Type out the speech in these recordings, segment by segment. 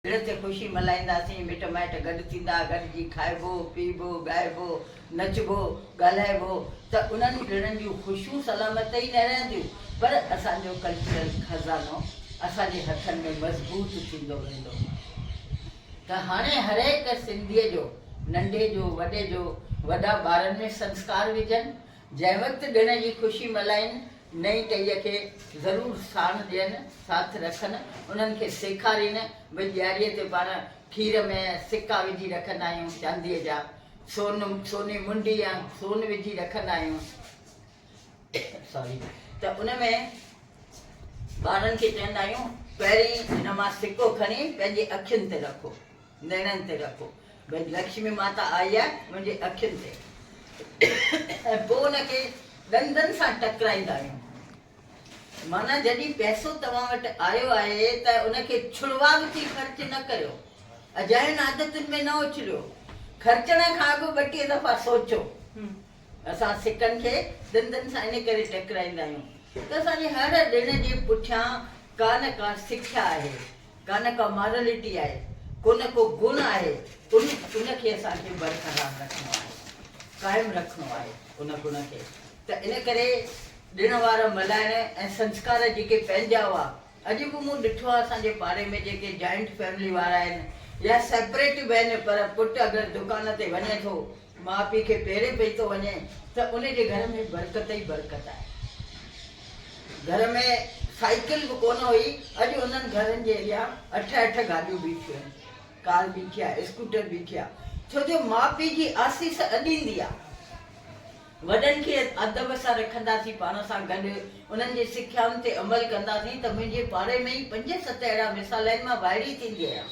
ڏڻ تي خوشي ملهائينداسين، مٽ مائٽ گڏ ٿيندا، گڏجي کائبو، پيئبو، ڳائبو، نچبو، ڳالهائبو ته انهن ئي ڏڻن جون خوشيون سلامت ته ئي نه رهنديون پر اسان جو ڪلچرل خزانو اسان جي هٿن ۾ مضبوط ٿيندو ويندو ته هاڻي هرهڪ سنڌيء جو ننڍي جو وڏي جو وڏا ٻارن ۾ سنسڪار وجهن، جنهن وقت ڏڻ جي خوشي ملهائين، نئين ٽهيء کي ضرور ساڻ ڏين، ساٿ رکن، انهن کي سيکارين به ڏياريء تي پاڻ کير ۾ سڪا وجهي رکندا آهيون چانديء جا، سون، سوني منڊي يا سون وجهي رکندا آهيون Sorry ته ان ۾ ٻارن کي چوندا آهيون پهرين هن مان سڪو کڻي پنهنجي اکين تي رکو، نيڻن تي رکو. ڀڄ لڪشمي ماتا آئي آهي منهنجي اکين تي ۽ پوء ان کي ڏندن سان ٽڪرائيندا آهيون. معنيٰ جڏهن پئسو توهان وٽ آيو آهي ته ان کي ڇڙواڳ ٿي خرچ نه ڪريو. اجاين عادتن ۾ نه اڇليو. خرچڻ کان اڳ ٻٽيهه دفعا سوچو. اسان سڪن کي ڏندن سان ان ڪري ٽڪرائيندا آهيون ته اسان جي هر ڏڻ جي پٺيان ڪا نه ڪا سکيا آهي. ڪانه ڪا مارلٽي آهي، ڪونه ڪو گڻ آهي، ان ان کي اسان کي برقرار رکڻو آهي، قائم رکڻو آهي ان گڻ کي ته ان ڪري ڏڻ وار ملهائڻ ۽ سنسڪار جيڪي پنهنجا هئا، اڄ به مون ڏٺو آهي اسان جي پاڙي ۾ جيڪي جائنٽ فيملي وارا آهن يا سيپريٽ به آهن پر پٽ اگر دڪان تي وڃي ٿو ماء پيء کي پيري پئي ٿو وڃي ته ان جي گهر ۾ برڪت ئي برڪت آهي. گهر ۾ سائيڪل به ڪونه هئي، اڄ انهن گهرن جي اڳيان اٺ اٺ گاڏيون بيٺيون آهن، ڪار بيٺي آهي، اسڪوٽر بيٺي آهي، ڇو جو ماء پيء جي آسيس اڏيندي آهي. وڏن کي ادب سان رکنداسين پاڻ سان گڏ. انهن جي سکيائن تي عمل ڪنداسين ته منهنجي پاڙي ۾ ئي پنج ست اهڙا مثال آهن مان وائڙي ٿيندي آهيان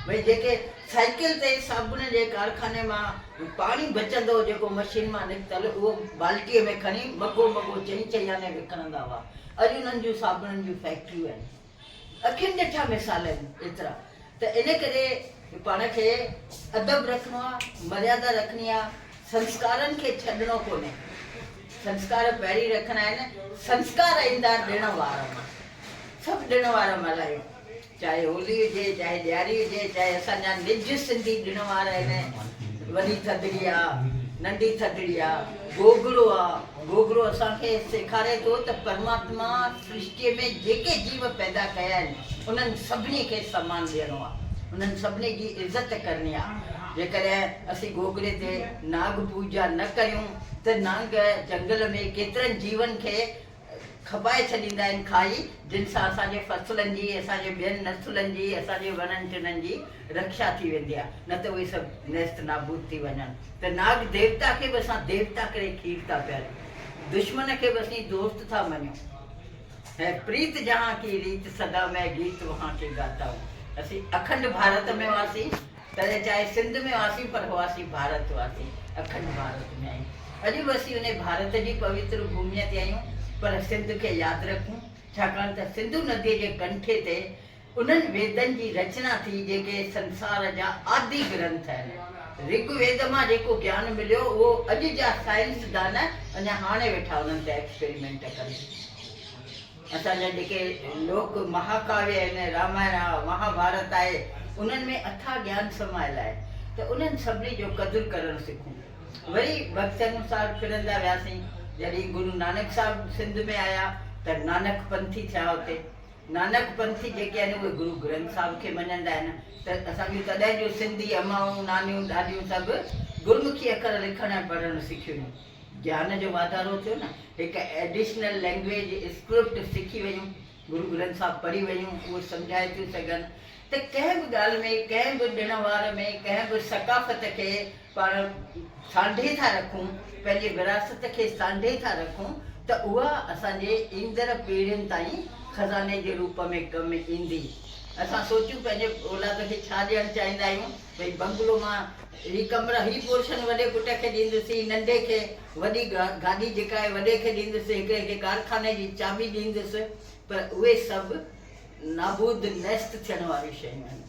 ڀئي جيڪي سائيڪل تي صابڻ جي ڪارخاني مان پاڻي بچندو جيڪو مشين مان نڪتل اهو بالٽي ۾ کڻي مگهو مگهو چئين چئين آني وڪڻندا هئا اڄ انهن جون صابڻن جون فيڪٽريون آهن. اکين ڏٺا مثال آهن ايترا ته ان ڪري پاڻ کي ادب رکڻو آ مريادا رکڻي آ سنسڪارن کي ڇڏڻو ڪونهي سنسڪار پهرين رکڻا آهن سنسڪار ايندار ڏڻ وار سڀ ڏڻ وار ملهايو چاهي هولي هجي چاهي ڏياري هجي چاهي اسان جا نج سنڌي ڏڻ وار آهن وڏي ٿڌڙي آ ننڍي ٿڌڙي آ گوگڙو آ گوگڙو اسان کي سيکاري ٿو ته پرماتما سرشٽيء ۾ جيڪي جيو پيدا ڪيا آهن، انهن سڀني کي سمان ڏيڻو آهي. انهن سڀني جي عزت ڪرڻي آهي. جيڪڏهن اسين گوگڙي تي ناگ پوڄا نه ڪريون ته نانگ جهنگل ۾ ڪيترن جيون کي کٻائي ڇڏيندا آهن، کائي، جن سان اسان جي فصلن جي، اسان جي ٻين نسلن جي، اسان جي وڻن ٽنن جي رکشا ٿي ويندي آهي، نه ته اهي سڀ نيست نابود ٿي وڃن ته ناگ ديوتا کي به اسان ديوتا ڪري کير ٿا پياريون. دشمن کي به اسين دوست ٿا مڃون هي پريت جهان ڪي ريت سدا مئي گيت وهان ڪي گاتا هون اسين اکنڊ ڀارت ۾ هئاسين تڏهن چاهي سنڌ ۾ هئاسين پر هئاسين ڀارت واسي اکنڊ ڀارت ۾ آهيون اڄ به اسين انهي ڀارت جي پويتر ڀوميء تي آهيون پر سنڌ کي ياد رکون ڇاڪاڻ ته سنڌو نديء جي ڪنٺي تي انهن ويدن جي رچنا ٿي جيڪي سنسار جا آدي گرنٿ آهن. رگ ويد مان جيڪو گيان مليو اهو اڄ جا سائنسدان اڃا هاڻي ويٺا انهن تي ايڪسپريمينٽ ڪن. اسان جا جيڪي لوڪ مهاڪاويه آهن، رامائڻ آهي، مهاڀارت آهي، انهن ۾ اٿاهه گيان سمايل آهي ته انهن سڀني جو قدر ڪرڻ سکون. وري وقت انوسار ڦرندا وياسين. جڏهين گرو نانڪ صاحب سنڌ ۾ آيا ته نانڪ پنٿي ٿيا اتي. نانڪ پنٿي جيڪي آهن اهي گرو گرنٿ صاحب کي مڃندا آهن ته اسان جون تڏهن جون سنڌي امائون، نانيون، ڏاڏيون سڀ گرمکي اکر لکڻ ۽ پڙهڻ سکيون هيون. گيان جو واڌارو ٿيو نه هڪ ايڊيشنل لينگويج اسڪرپٽ سکي ويون، گرو گرنٿ صاحب پڙهي ويون اهو سمجهائي ٿيون سگهن ته ڪنهن به ڳالهه ۾، ڪنهن به ڏڻ وار ۾، ڪنهن به ثقافت کي پاڻ سانڍي ٿا رکون، پنهنجي وراثت کي سانڍي ٿا رکون ته اها اسان جي ايندڙ پيڙهين تائين خزاني جي روپ ۾ ڪم ايندي. اسان سوچيون پنهنجي اولاد کي ڇا ڏيڻ چاهيندا آهيون، ڀئي بنگلو مان هي ڪمرا، هي پورشن وڏي پٽ کي ڏيندس، هي ننڍي کي وڏي گاڏي جيڪا آهي وڏي کي ڏيندس، هڪڙي کي ڪارخاني جي چاٻي ڏيندس، پر اهي سڀ. نابود، نيست، ٿيڻ واريون شيون آهن.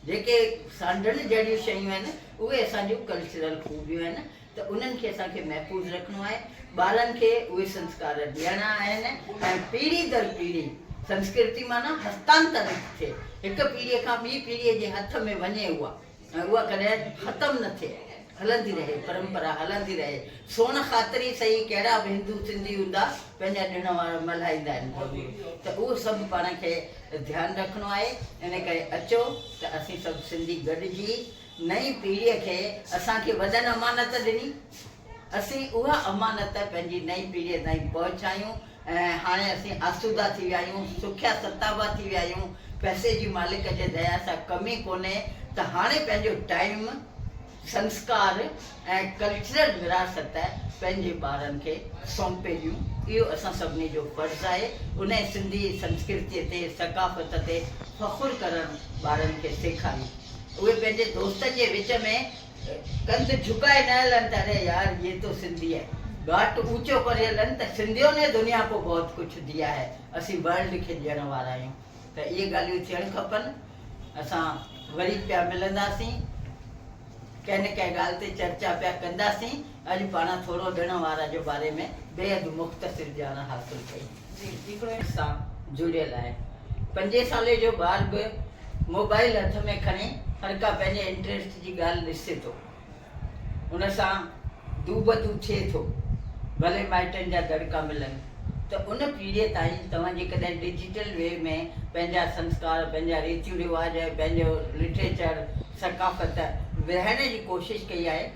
جيڪي سانڍڻ جهڙيون شيون آهن اهي اسان جون ڪلچرل خوبيون آهن ته انهن کي اسان کي محفوظ رکڻو آهي. ٻارن کي اهي سنسڪار ڏيڻا آهن ۽ پيڙهي در پيڙهي سنسڪرتي معنيٰ هستانترن ٿئي هڪ پيڙهي کان ٻي پيڙهي جي هٿ ۾ وڃي اها. ۽ اها ڪڏهن ختم نه ٿئي هلندي رهي پرمپرا هلندي رهي سوڻ خاطر ئي سهي ڪهڙا به هندو سنڌي هوندا پنهنجا ڏڻ وار ملهائيندا آهن ضرور ته اهو سڀ پاڻ کي ڌيان رکڻو آهي ان ڪري اچو ته اسين سڀ سنڌي گڏجي نئين پيڙهي کي اسان کي وڏن امانت ڏني اسين اها امانت پنهنجي نئين پيڙهي تائين پهچايون ۽ هاڻي اسين آسودا ٿي ويا آهيون، سکيا ستابا ٿي ويا آهيون، پئسي جي مالڪ جي ديا سان ڪم ئي ڪونهي ته هاڻي پنهنجو ٽائيم، سنسڪار ۽ ڪلچرل وراثت پنهنجي ٻارن کي سونپي ڏيون، اهو اسان سڀني جو فرض آهي، انهي سنڌي سنسڪرتي تي، ثقافت تي فخر ڪرڻ ٻارن کي سيکاريون، اهي پنهنجي دوستن جي وچ ۾ ڪنڌ جھڪائي نه ھلن ته اري يار يي تو سنڌي ھي ڳاٽ اوچو ڪري ھلن ته سنڌيو ني دنيا ڪو بھت ڪڇ ديا ھي اسين ورلڊ کي ڏيڻ وارا آھيون ته اھي ڳالھيون ٿيڻ کپن اسان وري پيا ملنداسين ڪنھن نه ڪنھن ڳالھه تي چرچا پيا ڪنداسين اڄ پاڻ ٿورو ڏڻ وارا جو باري ۾ بيحد مختصر ڄاڻ حاصل ڪئي. جي سيڪوينس سان جڙيل آهي. پنجين سالين جو ٻار به موبائل هٿ ۾ کڻي هرڪا پنهنجي انٽريسٽ جي ڳالهه ڏسي ٿو. ان سان دو بدو ٿئي ٿو. ڀلي مائٽن جا دڙڪا ملن ته ان پيڙهيء تائين توهان جيڪڏهن ڊجيٽل وي ۾ پنهنجا سنسڪار، پنهنجا ريتيون رواج ۽ پنهنجو لٽريچر، ثقافت ورهائڻ جي ڪوشش ڪئي آهي،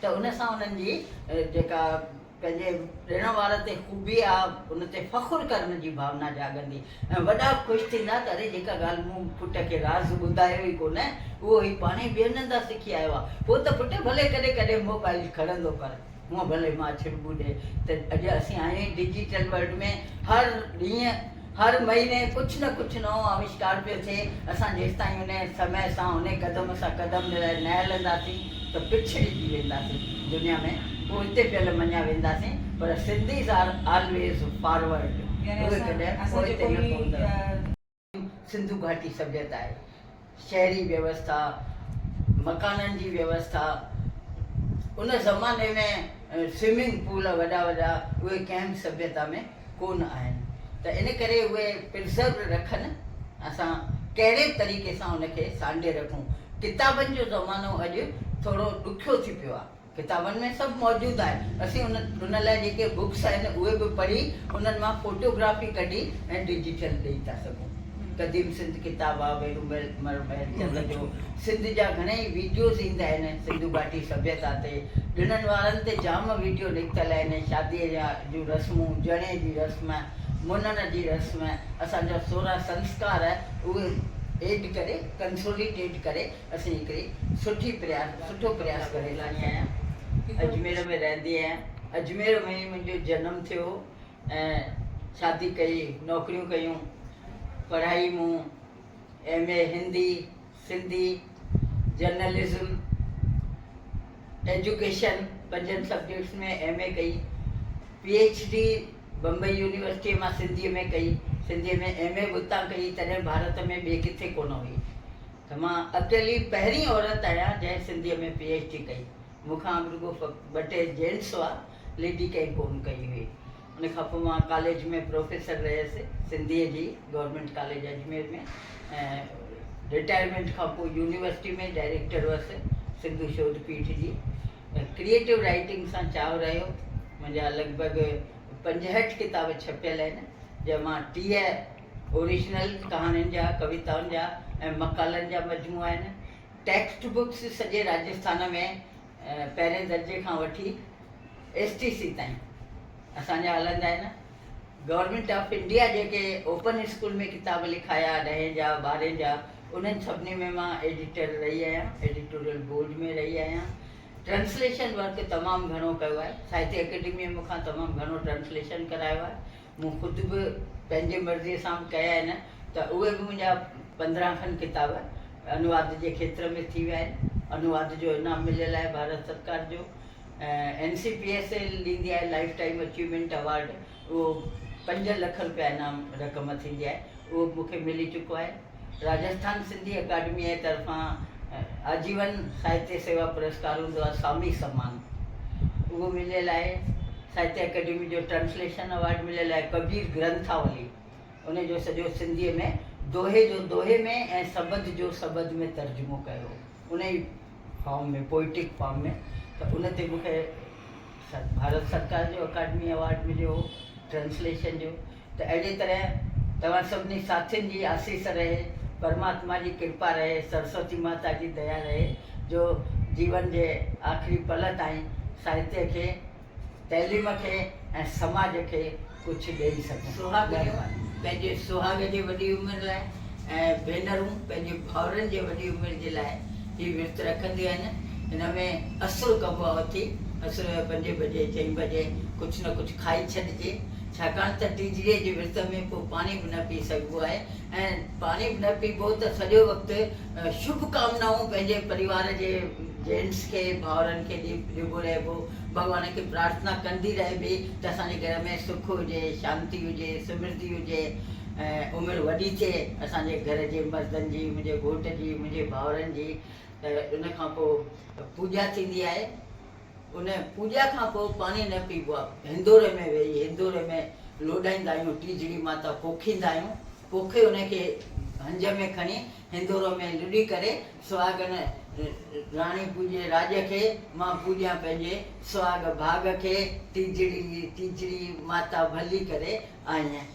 ته ان سان انهن جي جيڪا پنهنجي ڏيڻ وارن تي خوبي آ ان تي فخر ڪرڻ جي ڀاونا جاڳندي ۽ وڏا خوش ٿيندا ته اري جيڪا ڳالهه مون پٽ کي راز ٻڌايو ئي ڪونه اهو هي پاڻهي ٻين هندا سکي آيو آ پوء ته پٽ ڀلي ڪڏهن ڪڏهن موبائيل کڻندو پر هونء ڀلي ماڇربو ڏي ته اڄ اسين آهيون ئي ڊجيٽل ورلڊ ۾ هر ڏينهن هر مهيني ڪجهه نه ڪجهه نئون آوشڪار پيو ٿئي، اسان جيستائين ان سمئي سان ان قدم سان قدم ملائي نه هلنداسين ته پڇڙجي وينداسين دنيا ۾ پوئتي پيل مڃيا وينداسين پر سنڌيز آر آلويز فارورڊ اهي ڪڏهن پوئتي نه پوندڙ سنڌو گهاٽي سڀيتا آهي. شهري ويوسٿا، مڪانن جي ويوسٿا، ان زماني ۾ سوئمنگ پول وڏا وڏا اهي ڪنهن به سڀيتا ۾ ڪونه آهن ته ان ڪري اهي پرزروڊ رکن اسان ڪهڙي به طريقي سان ان کي سانڍي رکون ڪتابن جو زمانو اڄ ٿورو ڏکيو ٿي پيو آهي. ڪتابن ۾ سڀ موجود آهي اسين ان لاء جيڪي بڪس آهن اهي به پڙهي انهن مان فوٽو گرافي ڪڍي ۽ ڊجيٽل ڏئي ٿا سگهون قديم سنڌ ڪتاب آ ويرو مهر چند جو سنڌ جا گهڻيئي ويڊيوز ايندا آهن سنڌو گهاٽي سڀيتا تي ڏڻن وارن تي جام ويڊيو نڪتل آهن شادي جون رسمون جڻي جي رسم منڻ جي رسم اسان جا سورهن سنسڪار اهي ايڊ ڪري ڪنسوليٽيڊ ڪري اسين هڪڙي سٺي پرياس سٺو پرياس ڪري رهي آهيان اجمير ۾ رهندي آهيان اجمير ۾ ئي منهنجو جنم ٿيو ۽ شادي ڪئي نوڪريون ڪيون پڙهائي مون M A Hindi Sindhi journalism education پنجن سبجيڪٽس ۾ ايم اي ڪئي P H D Bombay university مان سنڌي ۾ ڪئي سنڌي ۾ ايم اي به اتان ڪئي تڏهن ڀارت ۾ ٻي ڪٿي ڪونه هئي ته مان اڪيلي پهرين عورت آهيان جنهن سنڌيء ۾ پي ايڇ ڊي ڪئي، مون کان اڳ رڳو ٻه ٽي جين سوا ليڊي ڪنهن ڪونه ڪئي هئي. ان کان پوء مان ڪاليج ۾ پروفيسر رهيس سنڌيء جي گورنمينٽ ڪاليج اجمير ۾ ۽ رٽائرمينٽ کان پوء يونيورسٽي ۾ ڊائريڪٽر هئس سنڌو شوڌ پيٺ جي. ڪريئيٽو رائيٽنگ سان چاهه رهيو، منهنجا لڳ ڀڳ پنجهٺ ڪتاب ڇپيل آهن جنهن مان ٽيهه اوريجنل ڪهاڻين جا، ڪويتائن جا ۽ مقالن جا مجموعا آهن. ٽيڪسٽ بڪس سڄي راجسٿان ۾ پهرين درجي کان وٺي ايس ٽي سي تائين اسان جا هلندا آهن. گورنمينٽ آف انڊيا جيڪي اوپن اسڪول ۾ ڪتاب لکايا ڏهين جا ٻارهين جا انهن سڀني ۾ مان ايڊيٽر رهي آهيان، ايڊيٽوريل بورڊ ۾ رهي آهيان. ٽرانسليشن ورڪ تمام گهڻو ڪيو آهي. ساهتيه اڪيڊميء مون کان تمام گهڻو ٽرانسليشن ڪرايو آهي. مون خود به پنهنجي مرضيء سان به ڪيا آهن ته اهي به منهنجا پندرهن کن ڪتاب انواد جي کيتر ۾ ٿي ويا آهن. انواد جو انعام مليل آهي ڀارت سرڪار جو. N C P S L ڏيندي آهي لائيف ٽائيم اچيومينٽ اوارڊ اهو پنج لک رپيا انعام رقم ٿيندي آهي اهو به مون کي ملي چڪو آهي. راجسٿان سنڌي اڪاڊميء جي طرفان آجيون ساهتيه سيوا پرسڪار هوندو آهي سامي سمان اهو مليل آهي ساهتيه اڪاڊمي جو ٽرانسليشن ايوارڊ مليل آهي ڪبير گرنٿاولي ان جو سڄو سنڌيء ۾ دوهي جو دوهي ۾ ۽ سٻڌ جو سٻڌ ۾ ترجمو ڪيو هو ان ئي فارم ۾ پوئٽڪ فارم ۾ ته ان تي مون کي ڀارت سرڪار جو اڪاڊمي ايوارڊ مليو هو ٽرانسليشن جو ته اهڙيء طرح توهان سڀني ساٿين جي آسيس رهي، پرماتما جي ڪرپا رهي، سرسوتي ماتا جي ديا رهي جو جيون جي آخري پل تائين ساهتيه کي، تعليم کي ۽ سماج کي ڪجهه ڏيئي سگهون. سهاڳڻيون پنهنجي سهاڳ جي وڏي عمر لاء ۽ ڀينرون پنهنجي ڀائرن جي وڏي عمر جي لاء هي ورت رکنديون آهن. هن ۾ اسرو ڪبو آهي اٿي اسرو جي پنجين بجي چئين بجي ڪجهه نه ڪجهه کائي ڇڏجي ڇاڪاڻ ته ٽيجڙيء جي ورت ۾ ڪو پاڻي به نه پي سگهبو آهي ۽ پاڻي به نه پيبو ته سڄو وقت شڀ ڪامنائون پنهنجي پريوار جي جينٽس کي ڀائرن کي ڏيبو رهبو ڀڳوان کي پرارٿنا ڪندي رهبي ته اسان جي گهر ۾ سک هجي شانتي هجي سمرڌي هجي ۽ عمر وڏي ٿئي اسان جي گهر جي مردن جي منهنجي گهوٽ جي منهنجي ڀائرن جي ته ان کان پوء پوڄا ٿيندي آهي. ان پوڄا کان پوء پاڻي نه پيبو آهي. هندوري ۾ ويهي هندوري ۾ لوڏائيندا آهيون، ٽيجڙي ماتا پوکيندا آهيون، پوکي ان کي هنج ۾ کڻي هندورو ۾ لڏي ڪري سهاڳن راڻي پوڄي راڄ کي، مان پوڄيان پنهنجي سهاڳ ڀاڳ کي، ٽيجڙي ٽيجڙي ماتا ڀلي ڪري آئين.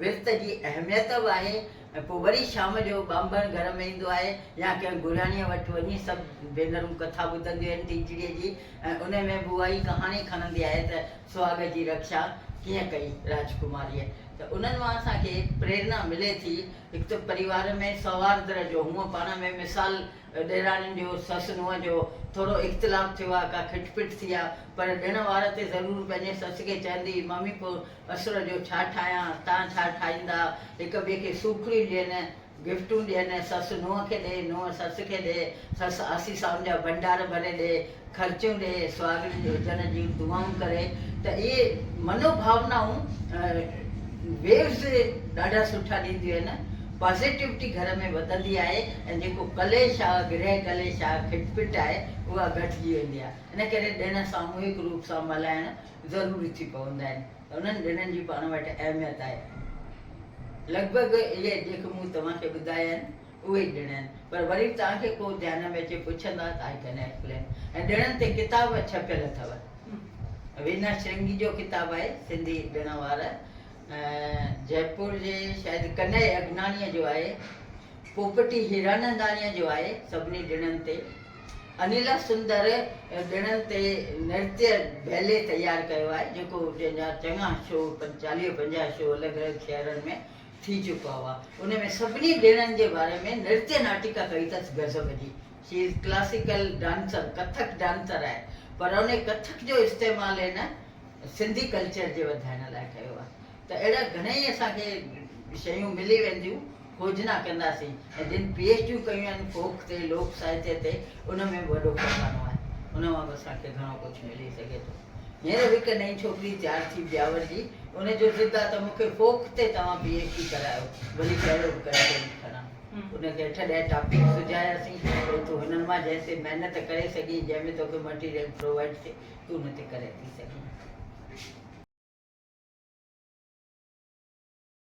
ورت جي اهميت به آهي ۽ پوء وري شام جو ٻانڀڻ گهر ۾ ايندو آهي يا ڪنهن گهراڻيء وٽ وڃي سڀ ڀينرون ڪٿا ٻڌنديون آهن تيجڙيء جي ۽ انهي ۾ به اها ئي ڪهاڻي کڻندي آهي ته سهاڳ جي رڪشا ڪيئن ڪئي راجڪماريء ته انهن مان اسان کي پريرنا ملي ٿي هڪ ته پريوار ۾ سوهاردر جو هونء پاڻ ۾ مثال ڏيراڻين جو سس نونهن جو ٿورو اختلاف ٿيو آ ڪا کٽ پٽ ٿي آ پر ڏڻ وار تي ضرور پنهنجي سس کي چهندي هئي مامي پو اسر جو ڇا ٺاهيان، تان ڇا ٺاهيندا، هڪ ٻئي کي سوکڙيون ڏين، گفٽون ڏين، سس نونهن کي ڏي، نونهن سس کي ڏي، سس آسي سائن جا ڀنڊار ڀري ڏي، خرچيون ڏي، سهاڳڻين جي هجڻ جون دعائون ڪري ته اهي منوڀاونائون Waves ڏاڍا سٺا ڏينديون آهن، Positivity گهر ۾ وڌندي آهي ۽ جيڪو ڪليش آهي، گرهه ڪليش آهي، کٽ پٽ آهي اها گهٽجي ويندي آهي، ان ڪري ڏڻ ساموهڪ روپ سان ملهائڻ ضروري ٿي پوندا آهن ۽ انهن ڏڻن جي پاڻ وٽ اهميت آهي. لڳ ڀڳ اهي جيڪي مون توهان کي ٻڌايا آهن، اهي ئي ڏڻ آهن، پر وري به توهان کي ڪو ڌيان ۾ اچي پڇندا ته آء ڪڏهن لکيل آهن ۽ ڏڻن تي ڪتاب ڇپيل اٿو. وينا شرنگي جو ڪتاب آهي سنڌي ڏڻ وار جئپور جي شايد ڪنئي اگناڻيء جو آهي، پوپٽي هيراننداڻيء جو آهي سڀني ڏڻن تي. انيل سندر ڏڻن تي نرتيه بيلي تيار ڪيو آهي جيڪو جنهن جا چڱا شو چاليهه پنجاهه شو الڳ الڳ شهرن ۾ ٿي چڪا هئا ان ۾ سڀني ڏڻن جي باري ۾ نرتيه ناٽڪا ڪئي اٿس غضب جي she is classical dancer Kathak dancer آهي پر ان ڪٿڪ جو استعمال هن سنڌي ڪلچر جي وڌائڻ لاء ڪيو آهي ته اهڙا گهڻيئي اسان کي شيون ملي وينديون کوجنا ڪنداسين ۽ جن پي ايڇ ڊيون ڪيون آهن فوڪ تي لوڪ ساهتيه تي ان ۾ به وڏو خزانو آهي ان مان به اسان کي گهڻو ڪجهه ملي سگهي ٿو هينئر به هڪ نئين ڇوڪري تيار ٿي بياور جي ان جو ضد آهي ته مون کي فوڪ تي توهان پي ايڇ ڊي ڪرايو ڀلي ڪهڙو به ڪنٽينٽ کڻان ان کي اٺ ڏهه ٽاپڪ سجهاياسين ڀلي تون هنن مان جنهن تي محنت ڪري سگهين جنهن ۾ توکي مٽيريل پرووائڊ ٿئي تون نه ٿي ڪري ٿي سگهين.